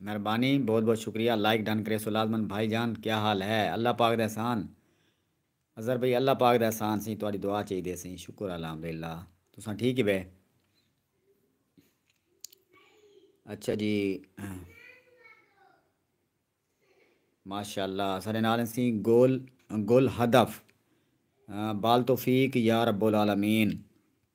مہربانی بہت بہت شکریہ لائک ڈن کریسو لازمن بھائی جان کیا حال ہے اللہ پاک دا احسان اظہر بھائی اللہ پاک دا احسان سیں تہاڈی دعا چاہی دے سیں شکر الحمدللہ تساں ٹھیک ہی بے اچھا جی ماشاءاللہ سارے نال اسی گول گول ہدف بال توفیق یا رب العالمین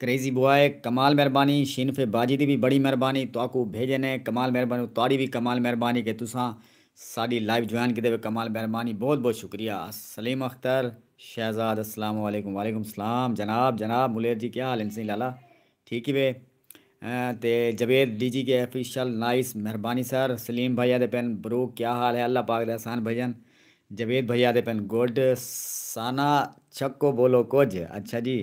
کریزی بوائے کمال مہربانی شینف باجی دی وی بڑی مہربانی تہاکوں بھیجے نے کمال مہربانی تہاڈی وی کمال مہربانی کہ تساں ساڈی لائیو جوائن کیتے وے کمال مہربانی بہت بہت شکریہ سلیم اختر شہزاد السلام علیکم وعلیکم السلام جناب جناب ملیر جی کیا حال ہن سئیں لالا ٹھیک ہی وے تے جاوید ڈی جی کے افیشل نائس مہربانی سر سلیم بھائی آدھے پن برو کیا حال ہے اللہ پاک دے احسان بھجن جاوید بھائی آدھے پن گڈ ثانا چھکو بولو کجھ اچھا جی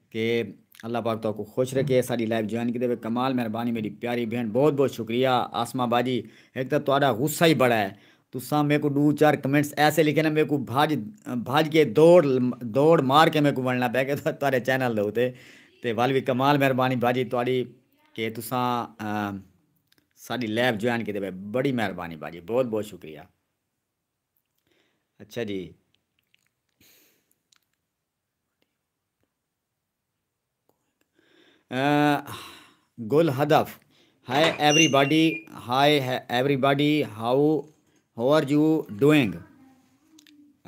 کہ اللہ پاک تہاکوں خوش رکھے اساڈی لائیو جوائن کیتے وے کمال مہربانی میڈی پیاری بہن بہت بہت شکریہ عاصمہ باجی ہک تاں تہاڈا غصہ ہی بڑا ہے تساں میکوں ڈو چار کمنٹس ایسے لکھے نا میکوں بھج بھج کے دوڑ دوڑ مار کے میکوں ونڑنا پے گیا تہاڈے چینل دے اتے تے ول وی کمال مہربانی باجی تہاڈی کہ تساں ساڈی لائیو جوائن کیتے وے بڑی مہربانی باجی بہت بہت شکریہ اچھا جی۔ گل ہدف، ہائے everybody hi everybody how how are you doing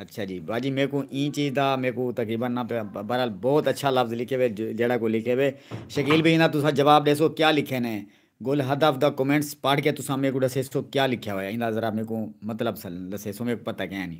اچھا جی باجی میکوں ایں چیز دا میکوں تقریبا نہ بہرحال بہت اچھا لفظ لکھے ہوئے جیڑھا کوئی لکھے ہوئے شکیل بھائی انہاں تساں جواب ݙیسو کیا لکھے نے گل ہدف دا کمنٹس پڑھ کے تساں میکوں ݙسیسو کیا لکھیا ہویا انہاں ذرا میکوں مطلب دسیسو میکوں پتہ کینی۔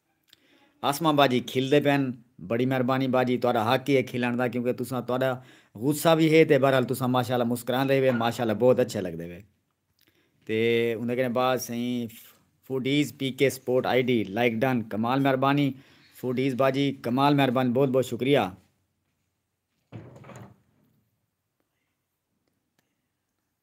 عاصمہ باجی کھلدے پئن بڑی مہربانی باجی تہاڈا حق ہی ہے کھلنڑ دا کیونکہ تساں تہاڈا غصہ وی ہے تے بہرحال تساں ماشاءاللہ مسکراندے ہی وے ماشاءاللہ بہت اچھے لگدے وے تے اوندے کنے بعد سئیں foodies P K support I D like done کمال مہربانی فوڈیز باجی کمال مہربانی بہت بہت شکریہ۔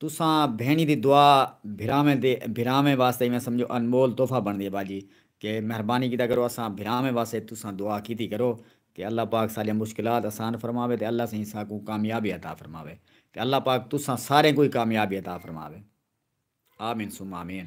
تساں بھینڑی دی دعا بھراویں دے بھراویں واسطے ایویں سمجھو انمول تحفہ بنڑدی ہے باجی کہ مہربانی کیتا کرو اساں بھراویں واسطے تساں دعا کیتی کرو کہ اللہ پاک ساڈیاں مشکلات اسان فرماوے تے اللہ سئیں ساکوں کامیابی عطا فرماوے تے اللہ پاک تساں ساریں کوں ہی کامیابی عطا فرماوے آمین ثم آمین۔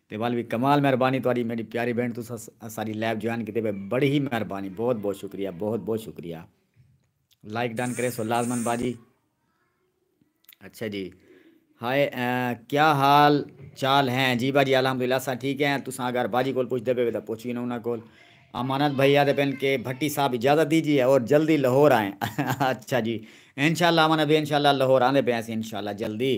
تے ول وی کمال مہربانی تہاڈی میڈی پیاری بھینڑ تساں اساڈی لائیو جوائن کیتے پے بڑی ہی مہربانی بہت بہت شکریہ بہت بہت شکریہ لائک ڈن کریسو لازمن باجی اچھا جی ہائے کیا حال چال ہیں جی باجی الحمدللہ اساں ٹھیک ہیں تساں اگر باجی کول پوچھتے پے تے پوچھ گینا انہاں کول امانت بھائی آدھے پن کے بھٹی صاحب اجازت دیجیے اور جلدی لاہور آئیں اچھا جی انشاءاللہ امانت بھائی انشاءاللہ لاہور آندے پے ہیں اسی انشاءاللہ جلدی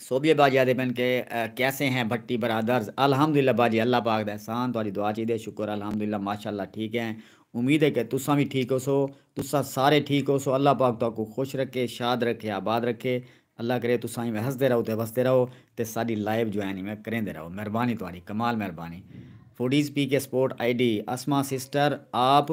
سوبھیے باجی آدھے پن کہ کیسے ہیں بھٹی برادرز الحمدللہ باجی اللہ پاک دا احسان تہاڈی دعا چاہیدے شکر الحمدللہ ماشاءاللہ ٹھیک ہیں امید ہے کہ تساں وی ٹھیک ہوسو تساں سارے ٹھیک ہوسو اللہ پاک تہاکوں خوش رکھے شاد رکھے آباد رکھے اللہ کرے تساں ایویں ہسدے رہو تے وسدے رہو تے ساڈی لائیو جوائن ایویں کریندے رہو مہربانی تہاڈی کمال مہربانی foodies P K support I D Asma sister آپ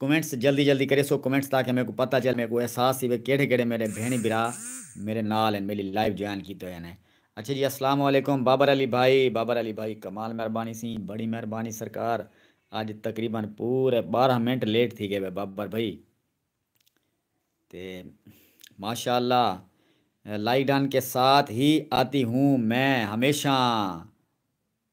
کمنٹس جلدی جلدی کریسو کمنٹس تاکہ میکوں پتہ چلے میکوں احساس تھیوے کیڑھے کیڑھے میڈے بھینڑی بھرا میڈے نال ہن میڈی لائیو جوائن کیتے ہوئے ہن اچھا جی اسلام علیکم بابر علی بھائی بابر علی بھائی کمال مہربانی سی بڑی مہربانی سرکار اج تقریبا پورے بارہ منٹ لیٹ تھی گئے وے بابر بھائی تے ماشاء اللہ لائیک ڈن کے ساتھ ہی آتی ہوں میں ہمیشہ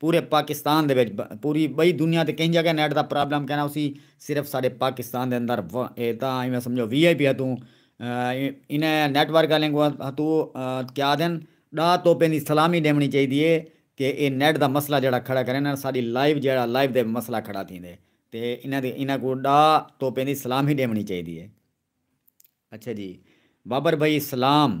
پورے پاکستان دے وچ پوری بئی دنیا تے کہیں جگہ نیٹ دا پرابلم کینا ہوسی صرف ساڈے پاکستان دے اندر و اے تاں ایویں سمجھو وی آئی پی ہتوں انہیں نیٹ ورک آلیں کو ہتو کیا آدھن ڈا توپیں دی سلامی ڈیونی چاہیدی اے کہ اے نیٹ دا مسئلہ جیڑا کھڑا کریں نا ساڈی لائیو جیڑا لائیو دے مسئلہ کھڑا تھیندے تے انہیں دی انہیں کو ڈا توپیں دی سلامی ڈیونی چاہیدی اے اچھا جی بابر بھائی سلام۔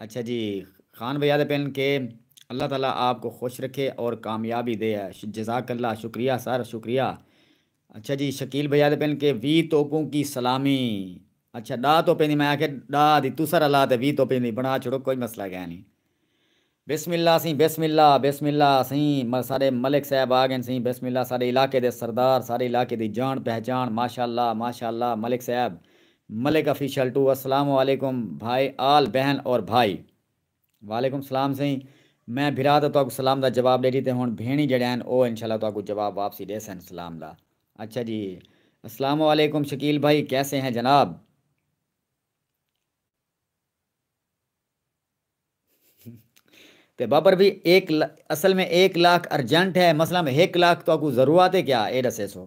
اچھا جی خان بھیا دے پن کے اللہ تعالی آپ کو خوش رکھے اور کامیابی دے جزاک اللہ شکریہ سر شکریہ اچھا جی شکیل بھیا دے پن کے وی توپوں کی سلامی اچھا ڈا توپیں دی میں آکھے ڈا دی تسر اللہ تے وی توپیں دی بنا چھڑو کوئی مسئلہ گے نی بسم اللہ سیں بسم اللہ بسم اللہ سیں ساڈے ملک صاحب آگن سیں بسم اللہ ساڈے علاقے دے سردار ساڈے علاقے دی جان پہچان ماشاءاللہ ماشاءاللہ ملک صاحب ملک آفیشل ٹو السلام علیکم بھائی آل بہن اور بھائی۔ وعلیکم سلام سئیں میں بھرا تاں تہاکوں سلام دا جواب ݙے ݙتے ہݨ بھیݨی جیڑھے ہن او انشاء اللہ تہاکوں جواب واپسی ݙیسن سلام دا اچھا جی السلام علیکم شکیل بھائی کیسے ہیں جناب۔ تے بابر بھئی ایک اصل میں ایک لاکھ ارجنٹ ہے مثلا ہک لاکھ تہاکوں ضرورت ہے کیا اے ݙسیسو۔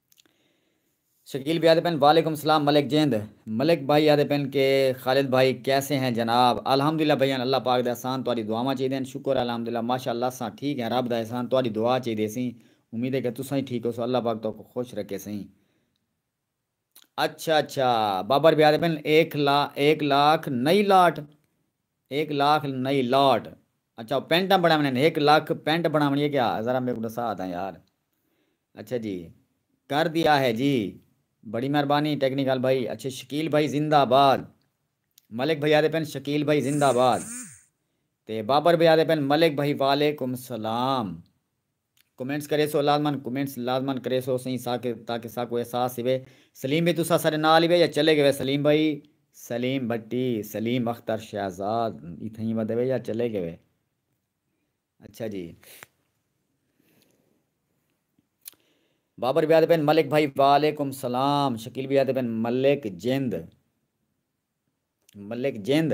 شکیل بھئی آدھے پن وعلیکم سلام ملک جیند ملک بھائی آدھے پن کہ خالد بھائی کیسے ہیں جناب الحمدللہ بھئیان اللہ پاک دے احسان تہاڈی دعاواں چاہیدے ہن شکر ہے الحمدللہ ماشاءاللہ اساں ٹھیک ہیں رب دا احسان تہاڈی دعا چاہیدے سئیں امید ہے کہ تساں ہی ٹھیک ہوسو اللہ پاک تہاکوں خوش رکھے سئیں اچھا اچھا بابر بھئی آدھے پن ایک لاکھ نئی لاٹ۔ ہک لاکھ نئی لاٹ اچھا او پینٹاں بنڑاونڑیاں نے ہک لکھ پینٹ بنڑاونڑی اے کیا ذرا میکوں ڈسا تاں یار اچھا جی کر دیا ہے جی بڑی مہربانی ٹیکنیکل بھائی اچھا شکیل بھائی زندہ باد ملک بھائی آدھے پن شکیل بھائی زندہ باد تے بابر بھائی آدھے پن ملک بھائی وعلیکم سلام کمنٹس کریسو لازمن کمنٹس لازمن کریسو سئیں ساکت تاکہ ساکوں احساس تھیوے سلیم بھئی تساں ساڈے نال ہیوے یا چلے گیوے سلیم بھئی سلیم بھٹی سلیم اختر شہزاد ای تھئیں ودیوے یا چلے گیوے اچھا جی بابر بھئی آدھے پین ملک بھئی وعلیکم سلام شکیل بھئی آدھے پین ملک جند ملک جند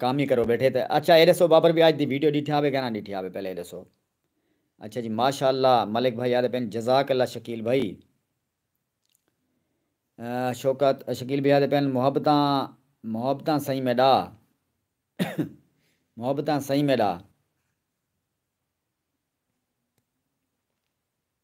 کم ہی کرو بیٹھے تے اچھا اے ڈسو بابر بھیا اج دی ویڈیو ڈیٹھیا ہوے گانا ڈیٹھیا ہوے پہلے اے ڈسو اچھا جی ماشاءاللہ ملک بھائی آدھے پین جزاک اللہ شکیل بھائی شوکت شکیل بھیا دے پین محبتاں محبتاں سائیں میڈا محبتاں سائیں میڈا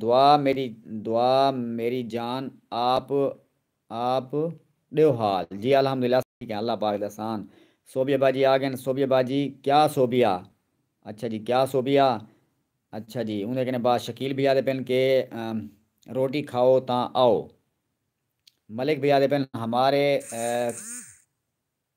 دعا میݙی دعا میݙی جان آپ آپ ݙیو حال جی الحمدللہ اساں ٹھیک ہیں اللہ پاک دا احسان صوبیہ با جی آگن صوبیہ با جی کیا صوبیہ اچھا جی کیا صوبیہ اچھا جی اوندے کنے با شکیل بھیا دے پن کے روٹی کھاؤ تاں آؤ ملک بھیا دے پن ہمارے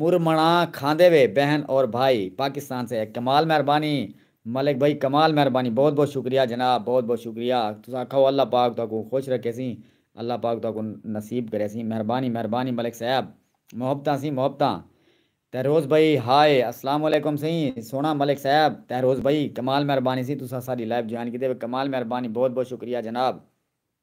مرمنڑاں کھاندے وے بہن اور بھائی پاکستان سے ہے کمال مہربانی ملک بھائی کمال مہربانی بہت بہت شکریہ جناب بہت بہت شکریہ تساں کھاؤ اللہ پاک تہاکوں خوش رکھے سی اللہ پاک تہاکوں نصیب کرے سی مہربانی مہربانی ملک صاحب محبتاں سی محبتاں تہروز بھائی ہائے السلام علیکم سئیں سوہنڑاں ملک صاحب تہروز بھائی کمال مہربانی سی تساں ساڈی لائیو جوائن کیتے وے کمال مہربانی بہت بہت شکریہ جناب۔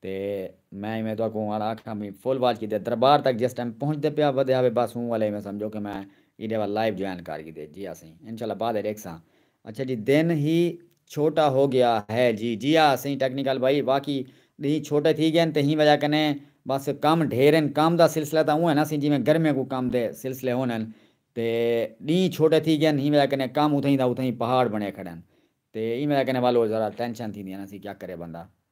تے میں ایویں تہاکوں ہن آکھاں بھئی فل واچ کیتے دربار تک جس ٹائم پہنچدے پیا ودھیا وے بس اوں والے ایویں سمجھو کہ میں ایڈے ول لائیو جوائن کر گھدے جی اسیں انشاءاللہ بعد اچ ڈیکھساں اچھا جی دن ہی چھوٹا ہو گیا ہے جی جی ہا سئیں ٹیکنیکل بھائی واقعی ڈینہہ چھوٹے تھی گئن تے ہی وجہ کنے بس کم ڈھیر ہن کم دا سلسلہ تاں اونہہ نا سئیں جیویں گرمیاں کوں کم دے سلسلے ہن ہن تے ڈینہہ چھوٹے تھی گئن ہی وجہ کنے کم اتھیں دا اتھیں پہاڑ بنے کھڑن تے ایں وجہ کنے والو ذرا ٹینشن تھیندی نا سئیں کیا کرے بندہ۔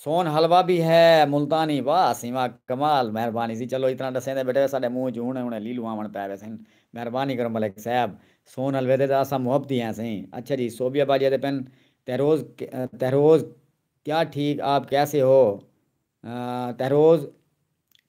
سون حلوہ بھی ہے ملتانی واہ سیواں کمال مہربانی جی چلو اتنا ڈسیندے بیٹھے ساڈے منہ اچ ہن ہن لیلوں آون پے ویسن مہربانی کرو ملک صاحب سون حلوے دے تاں اساں محبتی ہیں سئیں اچھا جی صوبیہ باجے دے پن تہروز تہروز کیا ٹھیک آپ کیسے ہو تہروز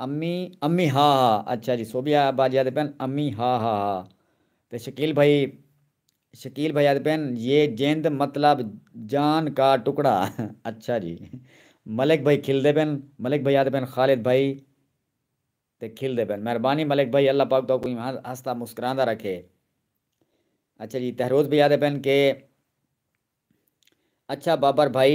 امی امی ہا ہا اچھا جی سوبھی ابا جی آدھے پین امی ہا ہا ہا تے شکیل بھائی شکیل بھائی آدھے پین یہ جند مطلب جان کا ٹکڑا اچھا جی ملک بھائی کھل دے پین ملک بھائی آدھے پین خالد بھائی تے کھل دے پین مہربانی ملک بھائی اللہ پاک تو کوئی ہستا مسکران دا رکھے اچھا جی تہروز بھائی آدھے پین کہ اچھا بابر بھائی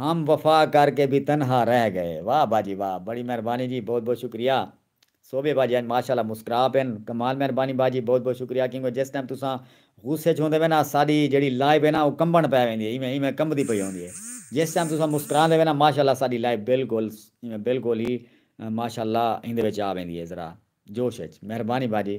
ہم وفا کر کے بھی تنہا رہ گئے واہ باجی واہ بڑی مہربانی جی بہت بہت شکریہ صوبے باجی اج ماشاء اللہ مسکرا پن کمال مہربانی باجی بہت بہت شکریہ کیونکہ جس ٹائم تساں غصے اچ ہوندے وے نا ساڈی جیڑی لائیو ہے نا او کمبن پے ویندی ہے ایویں ایویں کمبدی پئی ہوندی ہے جس ٹائم تساں مسکراندے وے نا ماشاء اللہ ساڈی لائیو بالکل ایویں بالکل ہی ماشاء اللہ ایندے وچ آ ویندی ہے ذرا جوش اچ مہربانی باجی۔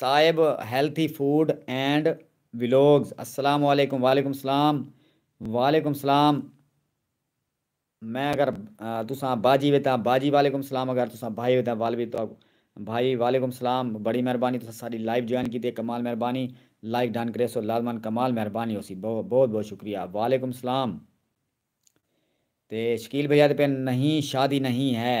صاحب ہیلتھی فوڈ اینڈ ولاگز السلام علیکم وعلیکم السلام وعلیکم السلام میں اگر تساں باجی وے تاں باجی وعلیکم السلام اگر تساں بھائی وے تاں والوی تو بھائی وعلیکم السلام بڑی مہربانی تساں ساڈی لائیو جوائن کیتی ہے کمال مہربانی لائک ڈن کریسو لازمن کمال مہربانی ہوسی بہت بہت شکریہ وعلیکم السلام تے شکیل بھیا تے پہ نہیں شادی نہیں ہے۔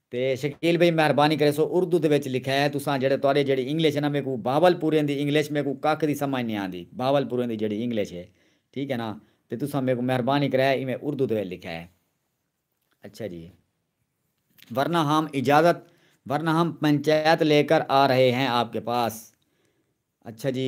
تے شکیل بھئی مہربانی کریسو اردو دے وچ لکھے تساں جیڑھے تہاڈے جیڑھی انگلش ہے نا میکوں بہاول پوریں دی انگلش میکوں ککھ دی سمجھ نی آندی بہاول پوریں دی جیڑھی انگلش ہے ٹھیک ہے نا تے تساں میکوں مہربانی کرے ایویں اردو دے وچ لکھے اچھا جی ورنہ ہم اجازت ورنہ ہم پنچایت لے کر آ رہے ہیں آپ کے پاس اچھا جی۔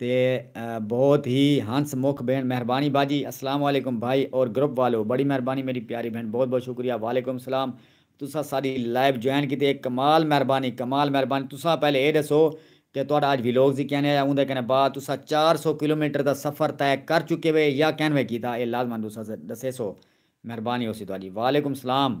تے بہت ہی ہنس مکھ بھین مہربانی باجی۔ السلام علیکم بھائی اور گروپ والو بڑی مہربانی میری پیاری بھین بہت بہت شکریہ وعلیکم السلام تساں ساڈی لائیو جوائن کیتی اے کمال مہربانی کمال مہربانی تساں پہلے اے ڈسو کہ تہاڈا اج ویلوگ سی کینویں آیا اوندے کنے بعد تساں چار سو کلومیٹر دا سفر طے کر چکے وے یا کینویں کیتا اے لازما تساں ڈسیسو مہربانی ہوسی تہاڈی وعلیکم السلام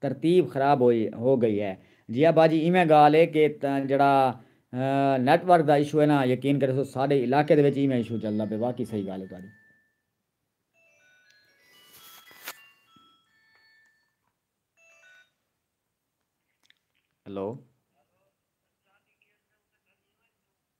ترتیب خراب ہوئی ہو گئی ہے۔ جیا باجی ایویں گالھ اے کہ جیڑھا نیٹ ورک دا ایشو اے نا یقین کریسو ساڈے علاقے دے وچ ایویں ایشو چلدا پئے واقعی صحیح گالھ اے تہاڈی۔ ہیلو۔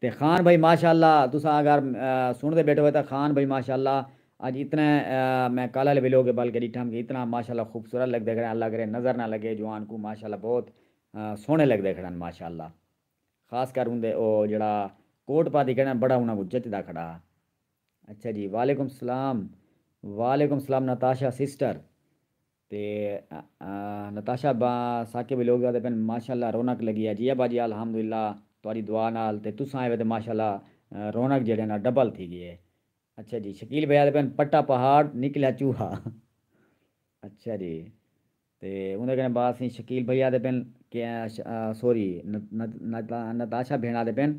تے خان بھائی ماشاءاللہ تساں اگر سنڑدے بیٹھے ہوئے تاں خان بھائی ماشاءاللہ اج اتنے میں کل آلے ویلوگ ابھل کے ڈٹھم کہ اتنا ماشاءاللہ خوبصورت لگدے کھڑن اللہ کرے نظر نہ لگے جوان کوں ماشاءاللہ بہت سوہنے لگدے کھڑن ماشاءاللہ خاص کر اوندے او جیڑھا کوٹ پاتی کھڑن بڑا انہاں کوں جچدا کھڑا ہا اچھا جی وعلیکم سلام وعلیکم سلام نتاشا سسٹر۔ تے نتاشا با ساکے وی لوگ آدے پن ماشاءاللہ رونق لگی ہے جی ابا جی الحمدللہ تہاڈی دعا نال تے تساں آئے وے تے ماشاءاللہ رونق جیڑھے نا ڈبل تھی گی ہے اچھا جی شکیل بھائی آدے پن پٹا پہاڑ نکلیا چوہا اچھا جی تے اوندے کنے بعد سی شکیل بھائی آدے پن کہ سوری نتاشا بھیڑ آدے پن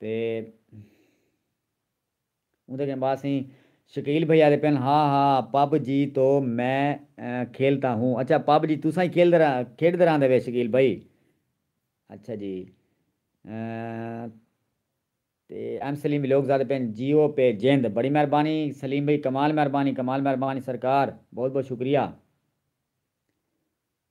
تے اوندے کن بعد سئیں شکیل بھئی آدھے پن ہا ہا پب جی تو میں کھیلتا ہوں اچھا پب جی تساں ہی کھیلدے کھیڈدے رہندے وے شکیل بھئی اچھا جی تے ایم سلیم ولاگز آدھے پن جیو پے جیند بڑی مہربانی سلیم بھئی کمال مہربانی کمال مہربانی سرکار بہت بہت شکریہ۔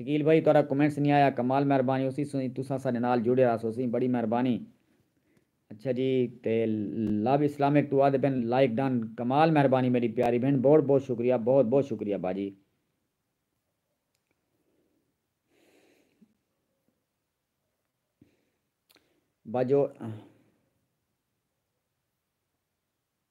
شکیل بھائی تہاڈا کمنٹس نی آیا کمال مہربانی ہوسی سوئی تساں ساڈے نال جڑے راس ہوسی بڑی مہربانی اچھا جی تے لو اسلامک ٹو آدھے پن لائک ڈن کمال مہربانی میڈی پیاری بھن بہٹ بہت شکریہ بہت بہت شکریہ باجی باجو۔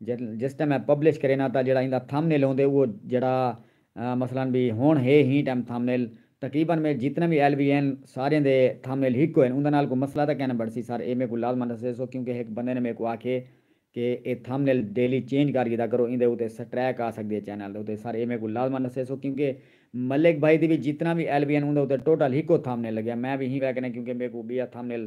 جس ٹیم میں پبلش کرینا تاں جیڑھا ایندا تھم نیل ہوندے اوہ جیڑھا مثلا بی ہن ہے ہیں ٹیم تھم نیل تقریبا میں جتنے وی ایل وی این ساریاں دے تھم نیل ہک ہوئن اوندا نال کوئی مسئلہ تاں کینہ بنسی سر اے میکوں لازما دسیسو کیونکہ ہک بندے نے میکوں آکھے کہ اے تھم نیل ڈیلی چینج کر گھدا کرو ایندے اتے سٹریک آ سکدی ہے چینل دے اتے سر اے میکوں لازما دسیسو کیونکہ ملک بھائی دی وی جتنا وی ایل وی این اوندا اتے ٹوٹل ہکو تھم نیل لگیا میں وی ہیں ویکھنا کیونکہ میکوں بیا تھم نیل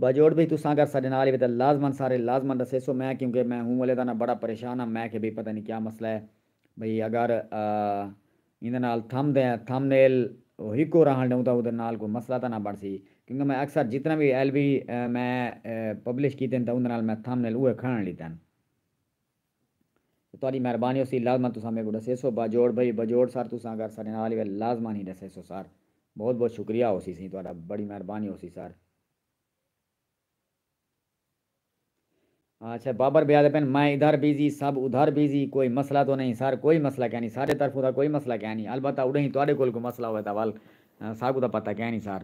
باجوڑ بھئی تساں اگر ساڈے نال ہیوے تاں لازمن سارے لازمن ڈسیسو میں کیونکہ میں ہوں ولے دا نہ بڑا پریشان ہاں میں کھے بھئی پتہ نی کیا مسئلہ ہے بھئی اگر ایندے نال تھم دے تھم نیل ہکو راہن ڈیوں تاں اودے نال کوئی مسئلہ تاں نہ بنسی کیونکہ میں اکثر جتنا وی ایل وی میں پبلش کیتن تاں اوندے نال میں تھم نیل اوہے کھنڑن لیتن۔ تہاݙی مہربانی ہوسی لازمن تساں میکوں ݙسیسو باجوڑ بھئی بجوڑ سر تساں اگر ساݙے نال وے لازمن ہی ݙسیسو سر بہت بہت شکریہ ہوسی سئیں تہاݙا بڑی مہربانی ہوسی سر۔ اچھا بابر بھیا آدھے پن میں ادھر بزی سب ادھر بزی کوئی مسئلہ تو نہیں سر کوئی مسئلہ کینی ساݙے طرفوں تاں کوئی مسئلہ کینی البتہ اݙاہیں تہاݙے کول کوئی مسئلہ ہووے تاں ول ساکوں تاں پتہ کینی سر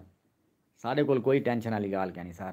ساݙے کول کوئی ٹینشن آلی ڳالھ کینی سر۔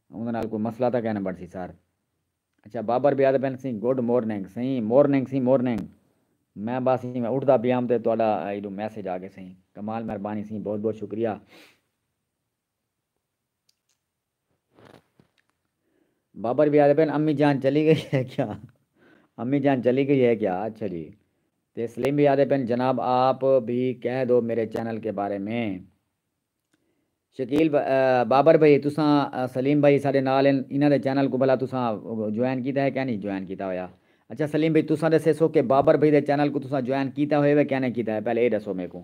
اوندے نال کوئی مسئلہ تاں کائناں بنڑسی سر۔ اچھا بابر بھیا تاں بنڑسی گڈ مورننگ سئیں مورننگ سئیں مورننگ میں بس ایویں اٹھدا پیام تے تہاڈا ایڈو میسج آ گئے سئیں کمال مہربانی سئیں بہت بہت شکریہ۔ بابر بھیا آدھے پن امی جان چلی گئی ہے کیا امی جان چلی گئی ہے کیا اچھا جی تے سلیم بھیا آدھے پن جناب آپ بھی کہہ دو میرے چینل کے بارے میں۔ شکیل بابر بھئی تساں سلیم بھئی ساڈے نال ہن انہاں دے چینل کوں بھلا تساں جوائن کیتا ہے کینی جوائن کیتا ہویا اچھا سلیم بھئی تساں ڈسیسو کہ بابر بھئی دے چینل کوں تساں جوائن کیتا ہوئے وے کینی کیتا ہے پہلے اے ڈسو میکوں۔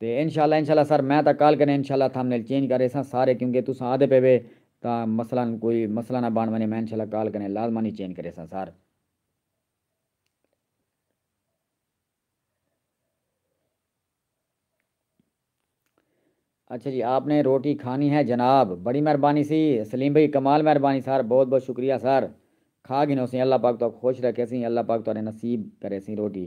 تے انشاء اللہ انشاء اللہ سر میں تاں کال کنے انشاء اللہ تھمنیل چینج کر ریساں سارے کیونکہ تساں آدھے پے وے تاں مثلا کوئی مسئلہ نہ بن ونجے میں انشاء اللہ کال کنے لازمانی چینج کریساں سر۔ اچھا جی آپ نے روٹی کھانی ہے جناب بڑی مہربانی سی سلیم بھائی کمال مہربانی سر بہت بہت شکریہ سر کھا گھنو سیں اللہ پاک تہاکوں خوش رکھے سیں اللہ پاک تہاڈے نصیب کرے سیں روٹی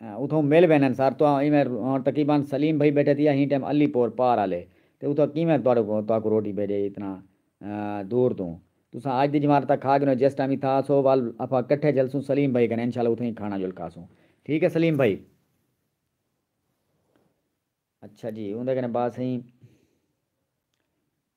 اتھوں مل ویندن سر تہاں ایویں ہن تقیبان سلیم بھئی بیٹھے تھی اہیں ٹیم علی پور پار آلے تے اتھاں کیویں تہاڈو کوں تہاکوں روٹی بھیجے اتنا دور توں تساں اج دی جمار تاں کھا گھنو جس ٹائم اتھاں آسو ول اپاں کٹھے جلسوں سلیم بھئی کنے انشاءاللہ اتھاں ہی کھانا جول کھاسوں ٹھیک ہے سلیم بھئی اچھا جی اوندے کنے بات سہی۔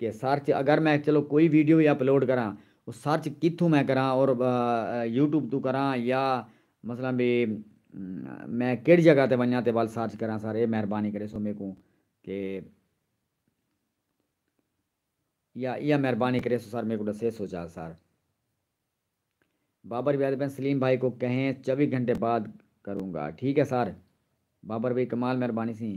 کہ سرچ اگر میں چلو کوئی ویڈیو وی اپلوڈ کراں او سرچ کتھوں میں کراں اور یوٹیوب توں کراں یا مثلا بی میں کیڑی جگہ تے ونجاں تے ول سرچ کراں سر اے مہربانی کریسو میکوں کہ یا ایہ مہربانی کریسو سر میکوں ڈسیسو چا سر۔ بابر بھائی آدھے پئن سلیم بھائی کو کہیں چوبی گھنٹے بعد کروں گا ٹھیک ہے سر بابر بھائی کمال مہربانی سی۔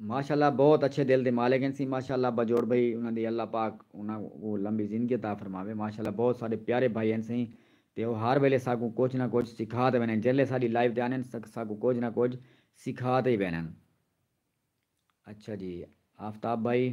ماشاءاللہ بہت اچھے دل دے مالک ہن سی ماشاءاللہ باجوڑ بھائی انہاں دی اللہ پاک انہاں کوں لمبی زندگی عطا فرماوے ماشاءاللہ بہت ساڈے پیارے بھائی ہن سی تے او ہر ویلے ساکوں کجھ نہ کجھ سکھا تے ویندن جیلھے ساڈی لائیو تے آندن ساکوں کجھ نہ کجھ سکھا تے ہی ویندن اچھا جی آفتاب بھائی۔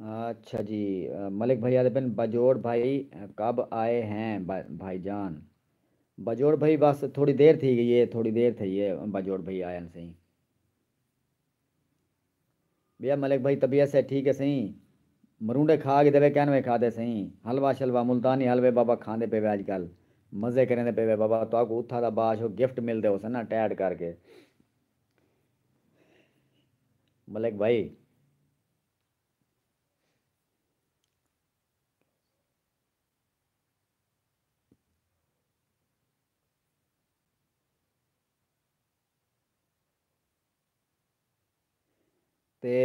اچھا جی ملک بھائی آدھے پن باجوڑ بھائی کب آئے ہیں بھائی جان باجوڑ بھائی بس تھوڑی دیر تھی گئی ہے تھوڑی دیر تھی ہے باجوڑ بھائی آئے ہیں سہی بیا ملک بھائی طبیعت سے ٹھیک ہے سہی مرونڈے کھا کے دے کہن وے کھا دے سہی حلوہ شلوہ ملتانی حلوے بابا کھاندے پے وے اج کل مزے کریں دے پے وے بابا تو کو اتھا دا باش ہو گفٹ مل دے ہو سنا ٹیڈ کر کے ملک بھائی تے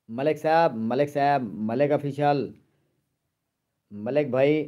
ملک صاحب ملک صاحب ملک آفیشل ملک بھائی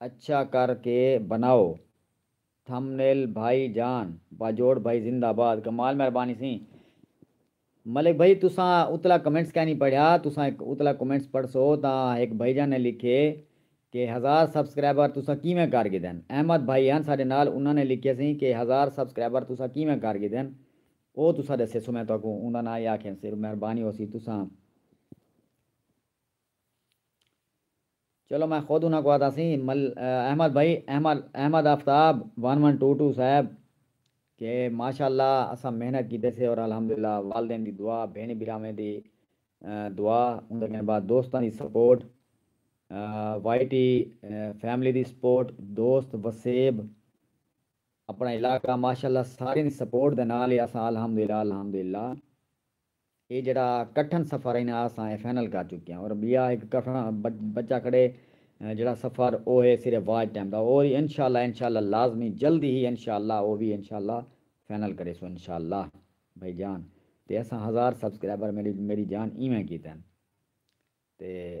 اچھا کر کے بناؤ تھمنیل بھائی جان۔ باجوڑ بھائی زندہ باد کمال مہربانی سیں ملک بھائی تساں اتلا کمنٹس کائنی پڑھیا تساں اتلا کمنٹس پڑھسو تاں ہک بھائی جان نے لکھے کہ ہزار سبسکرائبر تساں کیویں کر گھدن احمد بھائی ہن ساڈے نال انہاں نے لکھے سیں کہ ہزار سبسکرائبر تساں کیویں کر گھدن او تساں ڈسیسو میں تہاکوں اوندا ناں ہی آکھیں سر مہربانی ہوسی تساں چلو میں خود انہاں کوں آہدا سی مل احمد بھائی Ahmad Ahmad Aftab one one two two صاحب کہ ماشاء اللہ اساں محنت کیتے سے اور الحمد للہ والدین دی دعا بھینڑیں بھراویں دی دعا اوندے کن بعد دوستاں دی سپورٹ وائی ٹی فیملی دی سپورٹ دوست وسیب اپنڑاں علاقہ ماشاء اللہ ساریں دی سپورٹ دے نال ہی اساں الحمد للہ الحمد للہ اے جیڑھا کٹھن سفر اے نا اساں اے فائنل کر چکے آں اور بیا ہک کٹھن بچا کھڑے جیڑھا سفر او ہے صرف واچ ٹائم دا اور انشاء اللہ انشاء اللہ لازمی جلدی ہی انشاء اللہ او وی انشاء اللہ فائنل کریسوں انشاء اللہ بھائی جان تے اساں ہزار سبسکرائبر میری جان ایویں کیتے تے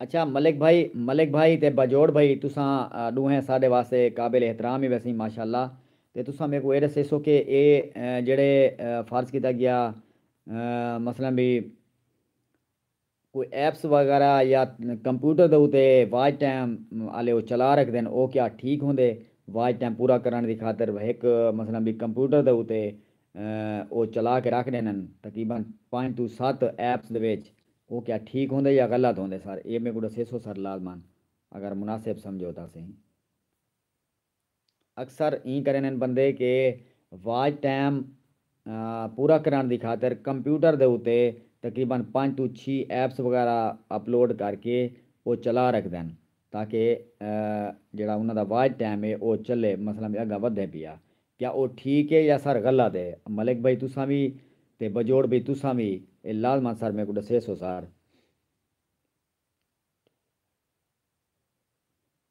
اچھا ملک بھائی ملک بھائی تے باجوڑ بھائی تساں ڈوہیں ساڈے واسطے قابل احترام ہی ویسیں ماشاءاللہ تے تساں میکوں اے ڈسیسو کہ اے جیڑھے فرض کیتا گیا مثلا بی کوئی ایپس وغیرہ یا کمپیوٹر دے اتے واچ ٹائم آلے او چلا رکھدن او کیا ٹھیک ہوندے واچ ٹائم پورا کرنڑ دی خاطر ہک مثلا بی کمپیوٹر دے اتے او چلا کے رکھ ڈیندن تقریبا پنج توں ست ایپس دے وچ او کیا ٹھیک ہوندے یا غلط ہوندے سر اے میکوں ڈسیسو سر لازما اگر مناسب سمجھو تاں سہی۔ اکثر ایں کریندن بندے کہ واچ ٹائم پورا کرنڑ دی خاطر کمپیوٹر دے اتے تقریبا پنج توں چھی ایپس وغیرہ اپلوڈ کر کے او چلا رکھدن تاکہ جیہڑا انہاں دا واچ ٹائم اے او چلے مثلا وی اگاں ودھے پیا کیا او ٹھیک اے یا سر غلط اے ملک بھائی تساں وی تے بجوڑ بھئی تساں وی اے لازما سر میکوں ڈسیسو سر۔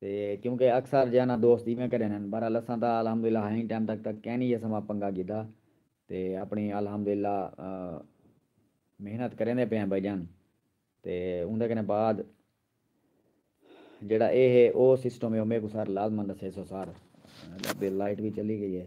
تے کیونکہ اکثر جیہاں نہ دوست ایویں کریندے ہن بہرحال اساں تاں الحمدللہ ہائیں ٹائم تک تاں کہیں نی اساں واں پنگا گھدا تے اپنی الحمدللہ محنت کریندے پئے آں بھائی جان تے اوندے کنے بعد جیہڑا اے ہے او سسٹم ہے او میکوں سر لازمن ڈسیسو سر تے لائٹ وی چلی گئی ہے۔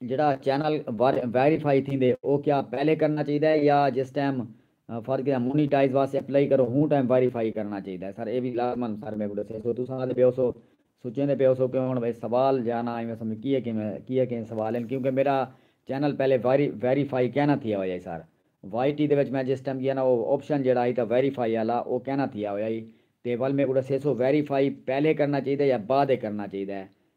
جیڑھا چینل ویریفائی تھیندے او کیا پہلے کرنا چاہیدا ہے یا جس ٹائم فرض کیتا مونیٹائز واسطے اپلائی کرو ہوں ٹائم ویریفائی کرنا چاہیدا ہے سر اے وی لازمن سر میکوں ڈسیسو تساں آندے پے ہوسو سوچیندے پے ہوسو کہ ہن اے سوال جانا ایویں سمجھ کیے کیویں کیے کیویں سوال ہن کیونکہ میڈا چینل پہلے ویریفائی کینا تھیا ہویا ہی سر وائی ٹی دے وچ میں جس ٹائم گیا نا او آپشن جیڑھا ہئی تاں ویریفائی آلا او کینا تھیا ہویا ہئی تے ول میکوں ڈسیسو ویریفائی پہلے کرنا چاہیدا ہے یا بعد اچ کرنا چاہیدا ہے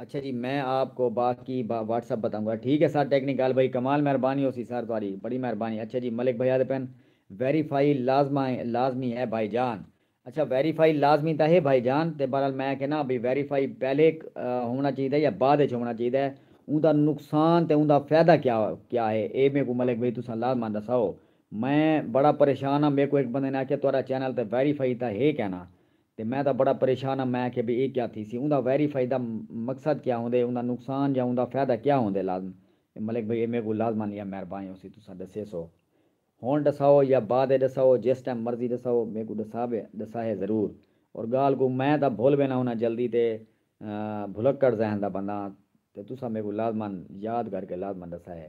اچھا جی میں آپ کو باقی واٹس اپ بتاؤں گا ٹھیک ہے سر ٹیکنک گال بھائی کمال مہربانی ہو سی سر تہاڈی بڑی مہربانی اچھا جی ملک بھائی آدھے پن ویریفائی لازما ہے لازمی ہے بھائی جان اچھا ویریفائی لازمی تاں ہے بھائی جان تے بہرحال میں کہنا بھئی ویریفائی پہلے ہونا چاہیدا یا بعد وچ ہونا چاہیدا ہے اوندا نقصان تے اوندا فائدہ کیا کیا ہے اے میکو ملک بھائی تساں لازما دساؤ میں بڑا پریشان ہاں میکو ہک بندے نے آکھیا تہاڈا چینل تے ویریفائی تاں ہے کینا تے میں تاں بڑا پریشان ہاں میں آکھیا بھئی اے کیا تھیسی اوندا ویری فائی دا مقصد کیا ہوندے اوندا نقصان یا اوندا فیدہ کیا ہوندے لازم ملک بھئی اے میکوں لازما یا مہربائیں ہوسی تساں ڈسیسو ہن ڈساؤ یا بعد اچ ڈساؤ جس ٹائم مرضی ڈساؤ میکوں ڈساوے ڈساہے ضرور اور گالھ کوں میں تاں بھل وینا ہونا جلدی تے بھلکڑ ذہن دا بندہ ہاں تے تساں میکوں لازما یاد کر کے لازما ڈساہے۔